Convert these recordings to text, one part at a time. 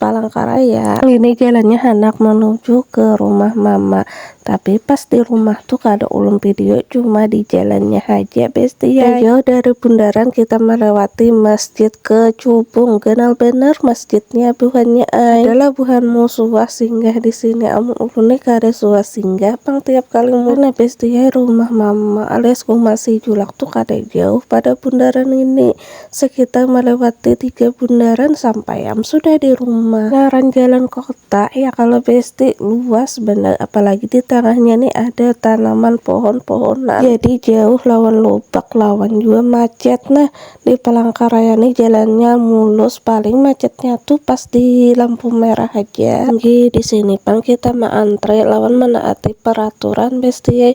Palangkaraya. Ini jalannya handak menuju ke rumah mama. Tapi pas di rumah tuh kada ulun video cuma di jalannya haja bestie. Dah jauh dari bundaran kita melewati masjid ke cubung. Ganal banar masjidnya buhannya ai. Ada lah buhanmu suah singgah disini amun ulun nih kada suah singgah pang tiap kali mudik. Nah bestie rumah mama alias uma si julak tuh kada jauh pada bundaran ini. Sekitar melewati tiga bundaran sampai am sudah di rumah. Ngaran jalan kota ya kalo besti luas banar apalagi di tangahnya nih ada tanaman pohon-pohonan jadi jauh lawan lobak lawan jua macet. Nah di Palangkaraya nih jalannya mulus paling macetnya tuh pas di lampu merah haja. Nggih di sini pang kita ma antre lawan menaati peraturan besti ai.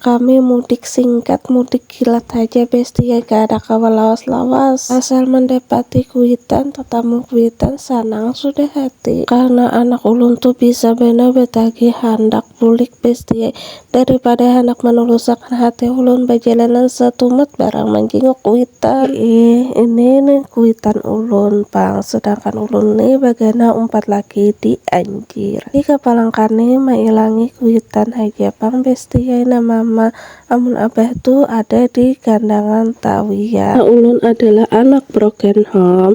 Kami mudik singkat, mudik kilat haja besti ai kada kawa lawas-lawas. Asal mandapati kuitan, tatamu kuitan, sanang sudah hati. Karna anak ulun tu bisa banar batagih handak bulik besti ai. Daripada handak manulusakan hati ulun bajalanan satumat barang manjinguk kuitan. Iih, ini nih kuitan ulun pang, sedangkan ulun nih bagana umpat laki di. Kira. Di kapalang kami mailangi kuitan haja pang besti ai nah mama, amun abah tu ada di gandangan tawi ya. Nah ulun adalah anak broken home,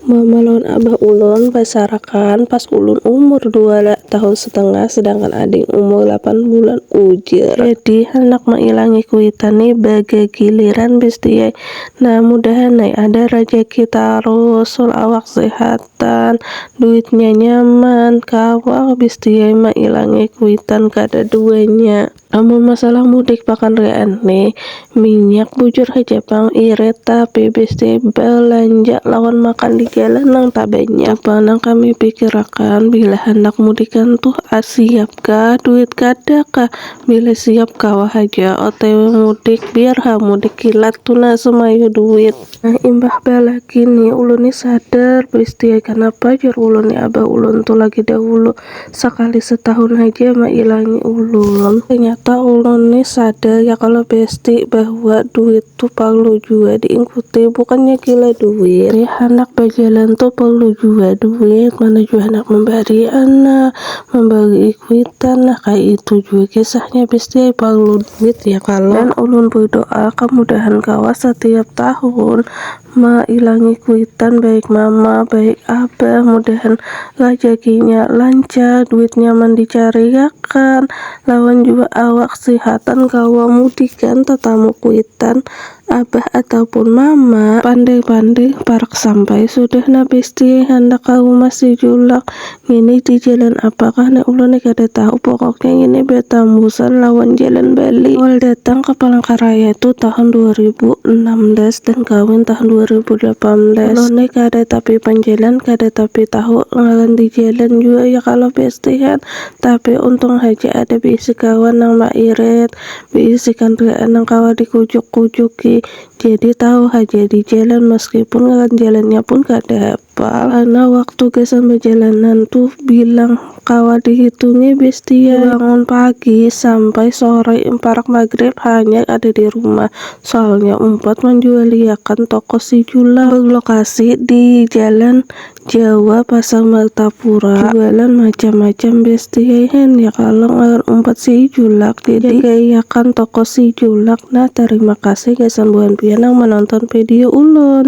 mama lawan abah ulun basarakan pas ulun umur dua tahun setengah sedangkan ading umur lapan bulan ujar. Jadi handak mailangi kuitan ni bagagiliran besti ai, nah mudahan ai ada rajaki tarus sul awak sehat. kuitan, duitnya nyaman, kawa habis diai mailangi kuitan kada duanya. Amun masalah mudik pakan rian ni minyak bujur haja pang irit tapi bis diai balanja lawan makan di jalan nang tabanyak. Tu pang nang kami pikirakan bila handak mudikan tuh ar siap kah duit kada kah, bila siap kawa haja otw mudik biar ha mudik kilat tu nah sumayu duit. Nah imbah balaki ni ulun ni sadar beristiai kanapa jar ulun ni abah ulun tu lagi dahulu sakali setahun haja mailangi ulun. Tanyata ulun ni sadar ya kalo besti bahwa duit tu parlu jua diingkuti bukannya gila duit. Handak bajalan tu parlu jua duit mana jua handak mambari anak, Mambari kuitan nah kaya itu jua kisahnya besti parlu duit ya kalo. Dan ulun berdoa kamudahan kawa satiap tahun mailangi kuitan baik mama baik abah mudahan rajakinya lancar duitnya man dicariakan lawan jua awak sihatan kawa mudikan tatamu kuitan Abah ataupun mama. Pandai-pandai parak sampai sudah nah bestie, handak ka rumah si julak ngini di jalan apakah ni ulun ni kada tahu pokoknya ngini batambusan lawan jalan bali. Awal datang ka Palangkaraya tu tahun dua ribu enam belas dan kawin tahun dua ribu delapan belas, ulun ni kada tapi panjalan kada tapi tahu ngaran di jalan jua ya kalo bestie han, tapi untung haja ada bisi kawan nang mairit, Bisikan riaan nang kawa dikujuk-kujuki jadi tahu haja di jalan maskipun ngaran jalannya pun kada hapal. Karna waktu gasan bajalanan tu bilang kawa dihitungi bestiai. Bangun pagi sampai sore imparak magrib hanyar ada di rumah. Soalnya umpat manjualiakan toko si Julang. Berlokasi di Jalan Jawa pasar martapura jualan macam macam besti ai hen ya kalo ngaran umpat si julak jadi gaiakan toko si julak nah tarima kasih gasan buhan pian nang manonton vedio ulun.